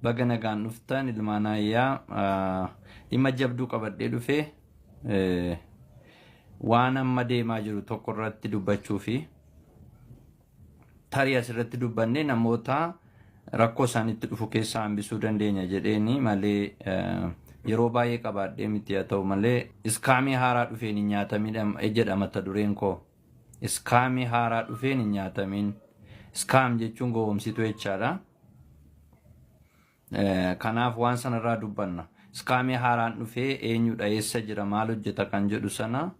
baga nagaan dhuftan ilmaan ayyaa dhimma jabduu qabadhee dhufe waan amma deemaa jiru tokko irratti dubbachuu fi tarii asirratti dubbanne namoota rakkoo isaanitti dhufu keessaa hambisuu dandeenya jedheeni malee yeroo baay'ee qabaadhee miti haa ta'u malee iskaamii haaraa dhufeen hin nyaatamin jedha mata dureen koo. Scam haaraa dhufeen hin nyaatamin. Scam jechuun gowwomsituu jechaadha. Eh, Kanaaf waan sana irraa dubbanna. Scam haaraan dhufee eenyudha eessa jira maal hojjeta kan jedhu sana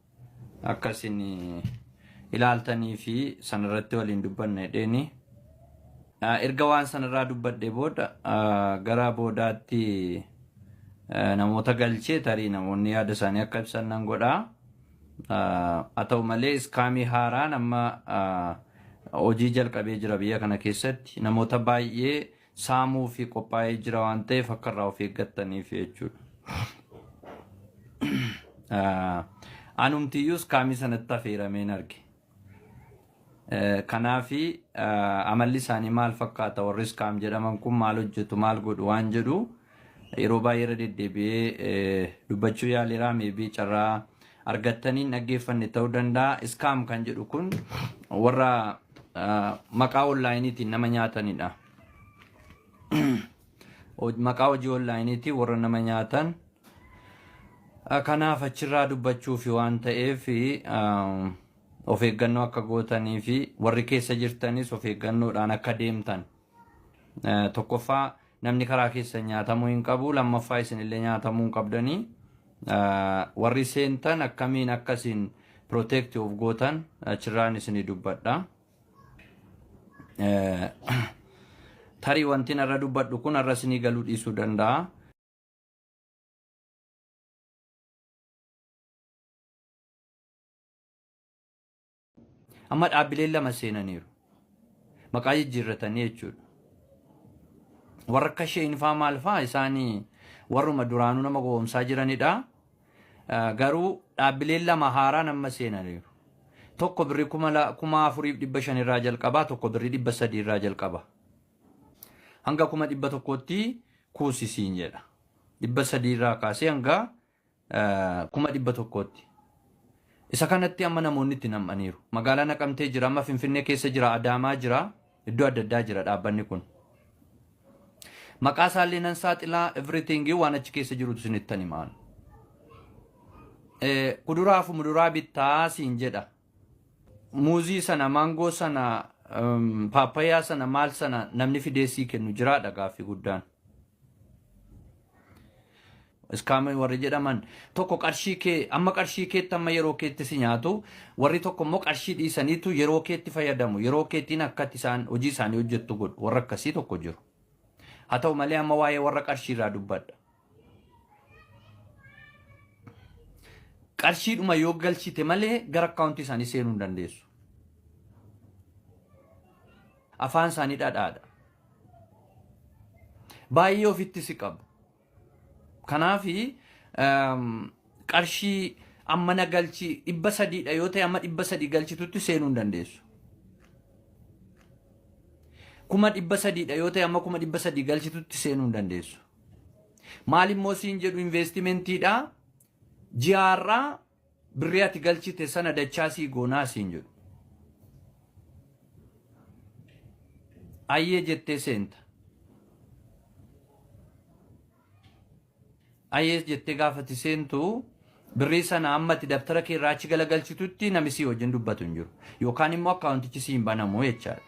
akka isin eh, ilaaltanii fi sanarratti waliin dubbanna jedheeni. Ah, Erga waan sanarraa dubbadhe booda ah, gara boodaatti eh, namoota galchee tarii namoonni yaada isaanii akka ibsan nan godhaa. Haa ta'u malee iskaamii haaraan amma hojii jalqabee jira biyya kana keessatti namoota baay'ee saamuu fi qophaa'ee jira waan ta'eef akka irraa of eeggattaniif jechuudha. Anumtiyyuu iskaamii sanatti affeerameen arge. Kanaafi amalli isaanii maal fakkaata warri iskaam jedhaman kun maal hojjetu maal godhu waan jedhu yeroo baay'ee irra deddeebi'ee dubbachuu yaaleera meebii carraa argattaniin dhaggeeffanne ta'uu danda'a. Iskaam kan jedhu kun warra maqaa onlaayiniitiin nama nyaatanidha. Maqaa hojii onlaayiniitiin warra nama nyaatan Kanaaf achirraa dubbachuufi waan ta'eef of eeggannoo akka gootanii fi warri keessa jirtanis of eeggannoodhaan akka deemtan. Tokkoffaa namni karaa keessa nyaatamuu hin qabu. Lammaffaa isinillee nyaatamuu hin qabdanii. Warri seentan akkamiin akka isin protect of gootan achirraan isinii dubbadha. Tarii wanti narra dubbadhu kun har'a isinii galuu dhiisuu danda'a. Amma dhaabbileen lama seenaniiru. Maqaa jijjiirratanii jechuudha. Warra akka isheen faa maal faa isaanii warruma duraanuu nama gowwoomsaa jiranidha. Eh, Garuu dhaabbileen lama haaraan amma seenaniiru. Tokko birrii kuma la- kuma afuriif dhibba shan irraa jalqabaa tokko birrii dhibba sadii irraa jalqaba. Hanga kuma dhibba tokkootti kuusi siin jedha. Dhibba sadii irraa kaasee hanga kuma dhibba tokkootti. Isa kanatti amma namoonni itti nam'aniiru. Magaalaa Naqamtee jira, amma Finfinnee keessa jira, Adaamaa jira, iddoo adda addaa jira dhaabbanni kun. Maqaa isaallee nan saaxilaa everything waan achi keessa jirutu isinittan himaan. Kuduraa fi muduraa bittaa siin jedha. Muuzii sana, maangoo sana, um, paappayaa sana, maal sana namni fidee sii kennu jiraadha gaaffii guddaan. Iskaamii warri jedhaman tokko qarshii kee amma qarshii keetti amma yeroo keetti si nyaatu warri tokko immoo qarshii dhiisaniitu yeroo keetti fayyadamu yeroo keetiin akkatti isaan hojii isaanii hojjettu godhu warra akkasii tokko jiru. Haa ta'u malee amma waa'ee warra qarshii irraa dubbadha. qarshiidhuma yoo galchite malee gara akkaawuntii isaanii seenuu hin dandeessu. Afaan isaanii dhadhaadha. Baay'ee ofitti si qabu. Kanaaf qarshii amma na galchi dhibba sadiidha yoo ta'e amma dhibba sadii galchitutti seenuu hin dandeessu. Kuma dhibba sadiidha yoo ta'e amma kuma dhibba sadii galchitutti seenuu hin dandeessu. Maal immoo siin jedhu investimentii ji'aarraa birrii ati galchite sana dachaa sii goonaa siin jedhu. Ayyee jettee seenta. Ayyee jettee gaafati seentu birrii sana amma ati dabtara kee irraa achi galagalchitutti nami sii wajjin dubbatu hin jiru. Yookaan immoo akkaawuntichi sii hin banamu jechaadha.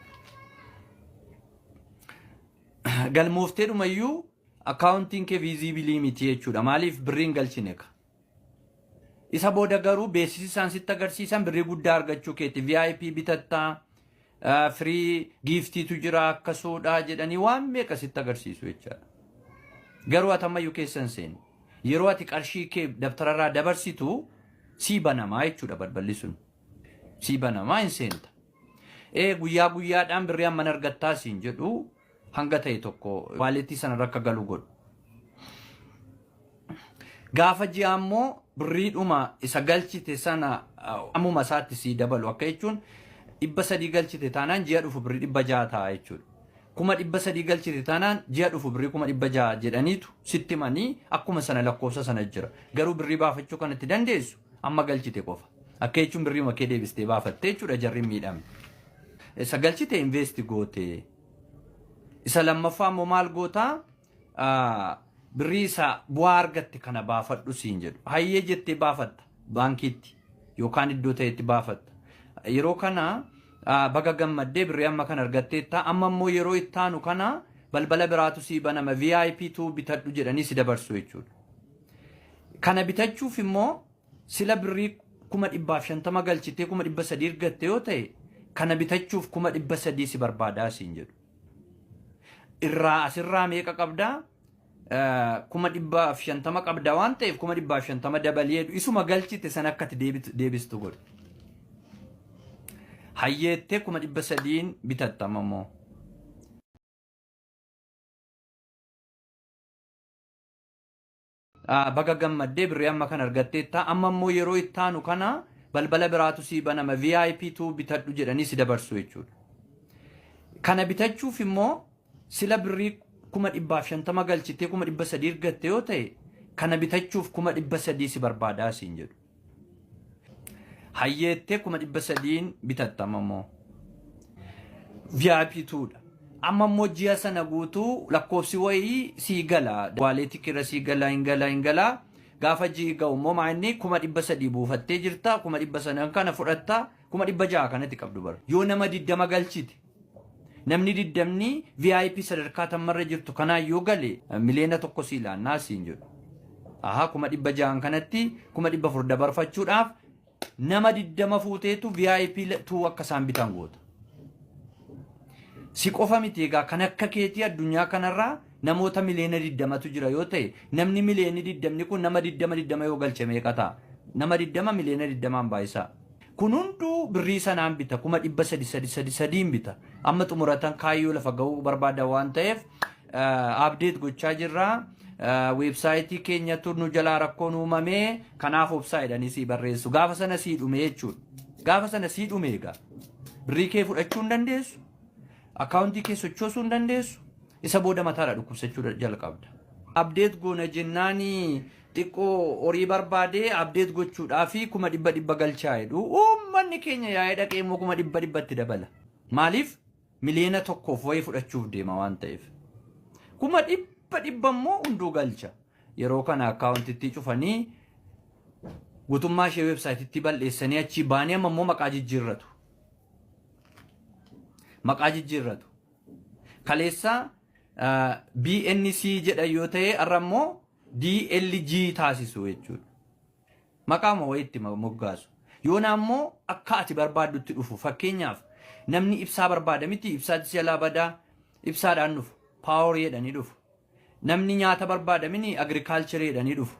galmooftee dhuma iyyuu akkaawuntiin kee viiziibilii miti jechuudha. Maaliif birriin galchine ka. Isa booda garuu beeksisi isaan sitti agarsiisan birrii guddaa argachuu keeti. VIP bitattaa, eh, firii giiftiitu jira akkasuudha jedhanii waan meeqa sitti agarsiisu jechaadha. Garuu ati ammayyuu keessa hin seenu. Yeroo ati qarshii kee dabtararraa dabarsitu sii banamaa jechuudha balballi sun. Sii banamaa hin seenta. Ee guyyaa guyyaadhaan birrii hamman argattaa siin jedhu hanga ta'e tokko waaleetii sana irra akka galu godhu. Gaafa ji'aa immoo birriidhuma isa galchite sana uh, ammuma isaatti sii dabalu akka jechuun dhibba sadii galchite taanaan ji'a dhufu birrii dhibba ja'a ta'a jechuudha. Kuma dhibba sadii galchite taanaan ji'a dhufu birrii kuma dhibba ja'a jedhaniitu sitti himanii akkuma sana lakkoofsa sana jira. Garuu birrii baafachuu kan itti dandeessu Amma galchite qofa. Akka jechuun birriima kee deebistee baafattee jechuudha jarri hin miidhamne. Isa galchite invest goote. Isa lammaffaa immoo maal goota? Ah, Birrii isa bu'aa argatte kana baafadhu siin jedhu. Hayyee jettee baafatta baankiitti yookaan iddoo ta'etti baafatta. Yeroo kana ah, baga gammaddee birrii amma kan argatteetta. Amma immoo yeroo itti aanu kana balbala biraatu sii banama VIP tu bitadhu jedhanii si dabarsu jechuudha. Kana bitachuuf immoo sila birrii kuma dhibbaaf shantama galchitee kuma dhibba sadii ergatte yoo ta'e kana bitachuuf kuma dhibba sadii si barbaadaa siin jedhu. Irraa asirraa meeqa qabdaa? Eh, kuma dhibbaaf shantama qabda waan ta'eef kuma dhibbaaf shantama dabalii jedhu isuma galchite sana akka itti deebitu- deebistu godhu. Hayyeettee kuma dhibba sadiin bitattama immoo. Ah, Baga gammaddee birrii amma kan argatteetta. Amma immoo yeroo itti aanu kana balbala biraatu sii banama VIP tuu bitadhu jedhanii si dabarsu jechuudha. Kana bitachuuf immoo sila birrii kuma dhibbaaf shantama galchitee kuma dhibba sadii ergatte yoo ta'e kana bitachuuf kuma dhibba sadii si barbaadaa siin jedhu. Hayyeettee kuma dhibba sadiin bitatta amma immoo. VIP tuudha. Amma immoo ji'a sana guutuu lakkoofsi wayii sii gala. Waaleetii kira sii gala hin gala hin gala. Gaafa ji'i ga'u immoo maa inni kuma dhibba sadii buufattee jirta. Kuma dhibba sadan kana fudhatta. Kuma dhibba ja'a kanatti qabdu bara. Yoo nama diddama galchite. Namni diddamni VIP sadarkaa tammarra jirtu kanaan yoo gale miliyoona tokko sii laannaa siin jedhu. Ahaa kuma dhibba ja'an kanatti kuma dhibba afur dabarfachuudhaaf nama diddama fuuteetu VIP tuu akka isaan bitan goota. Si qofa miti egaa kan akka keetii addunyaa kanarraa namoota miliyoona diddamatu jira yoo ta'e namni miliyoonni diddamni kun nama diddama diddama yoo galche meeqa ta'a? Nama diddama miliyoona diddamaan baay'isaa. Kun hunduu birrii sanaan bita kuma dhibba sadi sadi sadi sadiin bita. Amma xumuratan kaayyoo lafa ga'uu barbaada waan ta'eef abdeet gochaa jirra. Weebsaayitii keenyatu nu jalaa rakkoon uumame kanaaf obsaa jedhanii sii barreessu. Gaafa sana sii dhume jechuudha. Gaafa sana sii dhume egaa. Birrii kee fudhachuu hin dandeessu. Akkaawuntii kee sochoosuu hin dandeessu. Isa booda mataadha dhukkubsachuu jalqabda. Abdeet goona jennaani xiqqoo horii barbaade abdeet gochuudhaafi kuma dhibba dhibba galchaa jedhu uummanni keenya yaa'ee dhaqee immoo kuma dhibba dhibba itti dabala maaliif miliyoona tokkoof wayii fudhachuuf deema waan ta'eef kuma dhibba dhibba immoo hunduu galcha yeroo kana akkaawuntittii cufanii guutummaa ishee weebsaayititti bal'eessanii achii baanii amma immoo maqaa jijjiirratu maqaa jijjiirratu kaleessa BNC jedha yoo ta'e har'a immoo DLG taasisu jechuudha. Maqaama wayiitti ma- moggaasu. Yoona ammoo akka ati barbaaddutti dhufu. Fakkeenyaaf namni ibsaa barbaada miti ibsaatti jalaa badaa ibsaadhaan dhufu. Paaworii jedhanii dhufu. Namni nyaata barbaada mini agirikaalcharii jedhanii dhufu.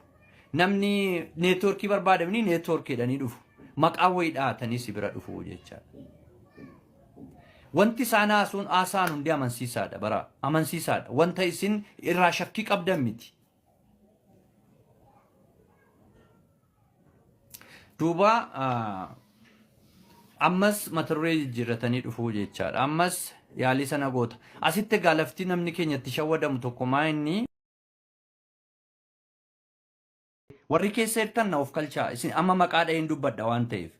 Namni neetwoorkii barbaada mini neetwoorkii jedhanii dhufu. Maqaa wayii dhahatanii si bira dhufu jechaadha. Wanti isaan haasuun haasa'an hundi amansiisaadha bara amansiisaadha wanta isin irraa shakkii qabdan miti. Duuba ammas mata duree jijjiirratanii dhufuu jechaadha. Ammas yaalii sana goota. Asitti egaa lafti namni keenya itti shawwadamu tokko maa inni Warri keessa jirtan na ofkalchaa. Isin amma maqaa dhaheen dubbadha waan ta'eef.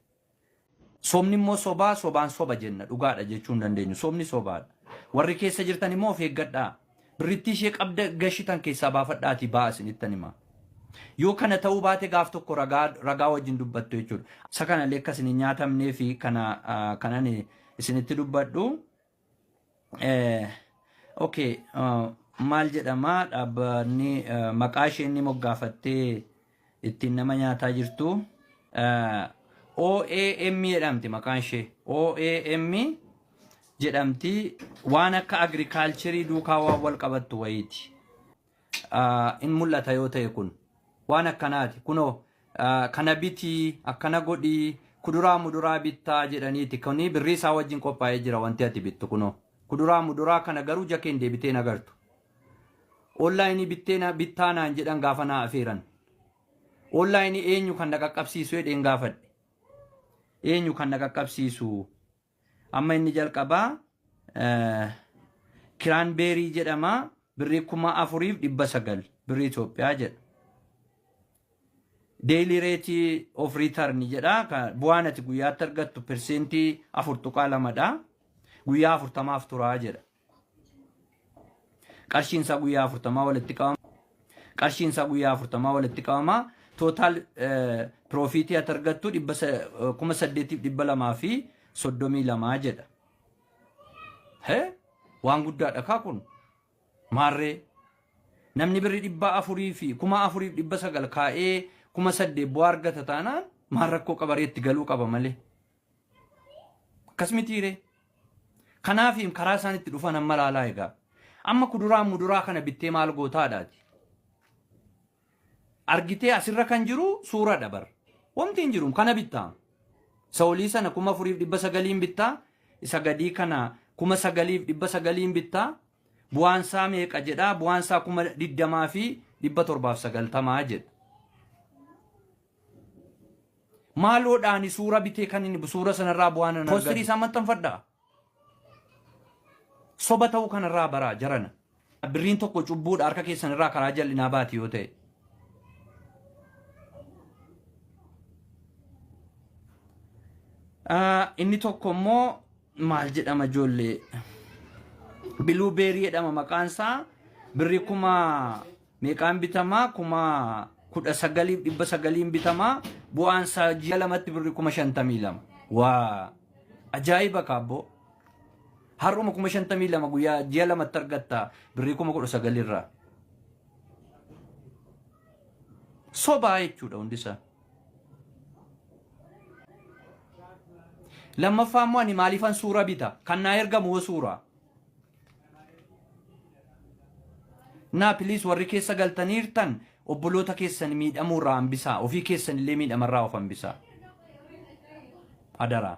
Sobni immoo sobaa, sobaan soba jenna. Dhugaadha jechuu hin dandeenyu. Sobni sobaadha. Warri keessa jirtan immoo of eeggadhaa. Birrittii ishee qabda gashitan keessaa baafadhaatii ba'a isinittan hima. Yoo kana ta'uu baate gaaf tokko ragaa ragaa wajjin dubbattu jechuudha. Isa kanallee akka isin hin nyaatamnee fi kana ah, kanan isinitti dubbadhu. Eh, okay uh, maal jedhama dhaabbanni uh, maqaa ishee inni moggaafattee ittiin nama nyaataa jirtu uh, OAM jedhamti maqaan ishee OAM jedhamti waan akka agrikaalcherii duukaa waan wal qabattu wayiiti. in mul'ata yoo ta'e kun waan akkanaati kunoo kana bitii akkana godhii kuduraa muduraa bittaa jedhaniiti kuni birrii isaa wajjin qophaa'ee jira wanti ati bittu kunoo kuduraa muduraa kana garuu jakeen deebitee nagartu onlaayinii bittee bittaa naan jedhan gaafa naa afeeran onlaayinii eenyu kan na qaqqabsiisu jedheen gaafadhe eenyu kan na qaqqabsiisu Amma inni jalqabaa kiraan beerii jedhama birrii kuma afuriif dhibba sagal birrii Itoophiyaa jedha. Deeyilii reetii of riitarni jedha bu'aan ati guyyaatti argattu perseentii afur tuqaa lamadha guyyaa afurtamaaf turaa jedha. Qarshiin isaa guyyaa afurtamaa walitti qabama. Qarshiin isaa guyyaa afurtamaa walitti qabama. Tootaal piroofiitii ati argattu dhibba sa- kuma saddeetiif dhibba lamaa fi soddomii lamaa jedha. Hee? Waan guddaadha kaa kun. Maarree namni birri dhibba afurii fi kuma afuriif dhibba sagal kaa'ee kuma saddeet bu'aa argata taanaan maal rakkoo qabaree itti galuu qaba malee. Akkas mitiiree? Kanaaf karaa isaan itti dhufan amma laalaa egaa. Amma kuduraa muduraa kana bittee maal gootaadhaati? Argitee asirra kan jiru suura dabar. Wanti hin jiru kana bittaa. Isa olii sana kuma afuriif dhibba sagaliin bittaa. Isa gadii kana kuma sagaliif dhibba sagaliin bittaa. Bu'aan isaa meeqa jedhaa? Bu'aan isaa kuma digdamaa fi dhibba torbaaf sagaltamaa jedha. Maaloodha ani suura bitee kan inni suura sanarraa bu'aan hin argatu. Postirii isaan maxxanfadha. Soba ta'uu kanarraa baraa jarana. Birriin tokko cubbuudha harka keessan irraa karaa jal'inaa baati yoo ta'e. Ah, Inni tokko immoo maal jedhama ijoollee? Biluu beerii jedhama maqaan isaa birrii kuma Meeqaan bitamaa? Kuma kudha sagaliif dhibba sagaliin bitamaa. Bu'aan isaa ji'a lamatti birri kuma shantamii lama. Waa! Ajaa'iba kaabboo. Har'uma kuma shantamii lama guyyaa ji'a lamatti argatta birrii kuma kudha sagalirraa. Sobaa jechuudha hundi isaa. Lammaffaa immoo ani maaliifan suura bita? Kan naa ergamu hoo suuraa? Naa please warri keessa galtaniirtan obboloota keessan miidhamuu irraa hambisaa ofii keessan illee miidhama irraa of hambisaa. Adaraa.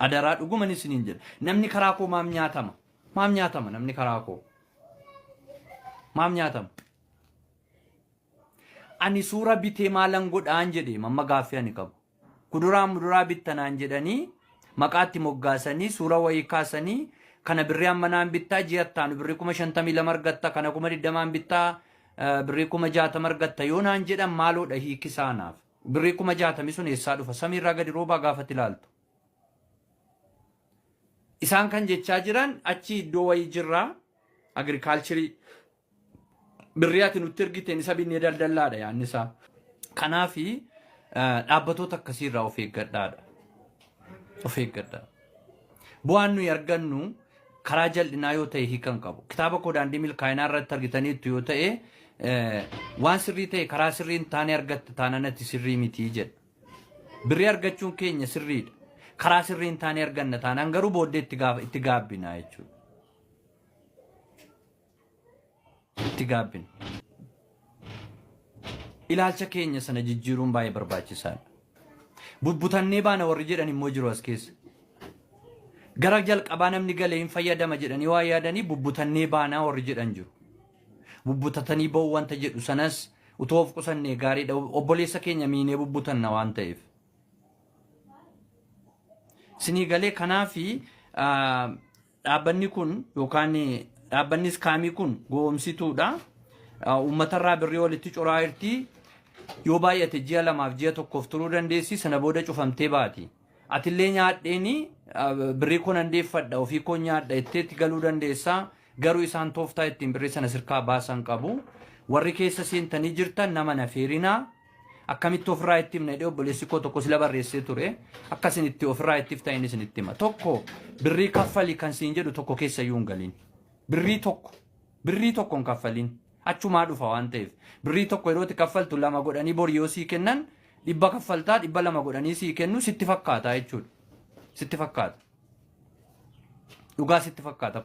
Adaraa dhuguman isiniin jedha. Namni karaa koo maam nyaatama. Maam nyaatama namni karaa koo. Maam nyaatama. Ani suura bitee maalan godhaan jedhe mamma gaaffii ani qabu. Kuduraa muduraa bitta naan jedhanii maqaa itti moggaasanii suura wayii kaasanii kana birrii hammanaan bittaa ji'a ittaanu birrii kuma shantamii lama argatta kana kuma digdamaan bittaa eh, birrii kuma jaatama argatta yoo naan jedhan maaloodha hiiki isaa naaf birrii kuma jaatami sun eessaa dhufa samiirraa gadi roobaa gaafatti ilaaltu. Isaan kan jechaa jiran achi iddoo wayii jirraa agirikaalchirii birrii ati nutti ergiteen isa binnee daldallaadha yaanni isaa. Kanaaf dhaabbatoota akkasii irraa of eeggadhaadha. Of eeggadhaa. Bu'aan nuyi argannu karaa jal'inaa yoo ta'e hiikan qabu. Kitaaba koo daandii milkaa'inaa irratti argitaniittu yoo ta'e eh, waan sirrii ta'e karaa sirrii hin taane argatta taanaan ati sirrii mitii jedha. Birrii argachuun keenya sirriidha. Karaa sirrii hin taane arganna taanaan garuu booddee itti gaaf- itti gaabbina jechuudha. itti gaabbina. Ilaalcha keenya sana jijjiiruun baay'ee barbaachisaadha. Bubbutannee baana warri jedhan immoo jiru as keessa. Gara jalqabaa namni galee hin fayyadama jedhanii waa yaadanii bubbutannee baanaa warri jedhan jiru. Bubbutatanii ba'uu wanta jedhu sanas utuu of qusannee gaariidha. Obboleessa keenya miinee bubbutanna waan ta'eef. Sinii galee kanaafi ah, Dhaabbanni kun yookaan dhaabbanni iskaamii kun gowomsituudha. Uummatarraa birrii walitti curaa jirti. Yoo baay'ate ji'a lamaaf ji'a tokkoof turuu dandeessi sana booda cufamtee baati. Atillee nyaadheeni birrii koo nan deeffadha ofii koo nyaadha jetteetti galuu dandeessa. Garuu isaan tooftaa ittiin birrii sana sirkaa baasan qabu. Warri keessa seentanii jirtan nama nafeerinaa. Akkamitti ofirraa itti himna jedhee obboleessi koo tokko sila barreessee ture. Akka isin itti ofirraa itti himtan inni isinitti hima. Tokko birrii kaffali kan siin jedhu tokko keessa iyyuu hin galin. Birrii tokko birrii tokko hin kaffalin. Achumaa dhufa waan ta'eef. Birrii tokko yeroo itti kaffaltu lama godhanii bor yoo sii kennan dhibba kaffaltaa dhibba lama godhanii sii kennu sitti fakkaata jechuudha. Sitti fakkaata. Dhugaa sitti fakkaata.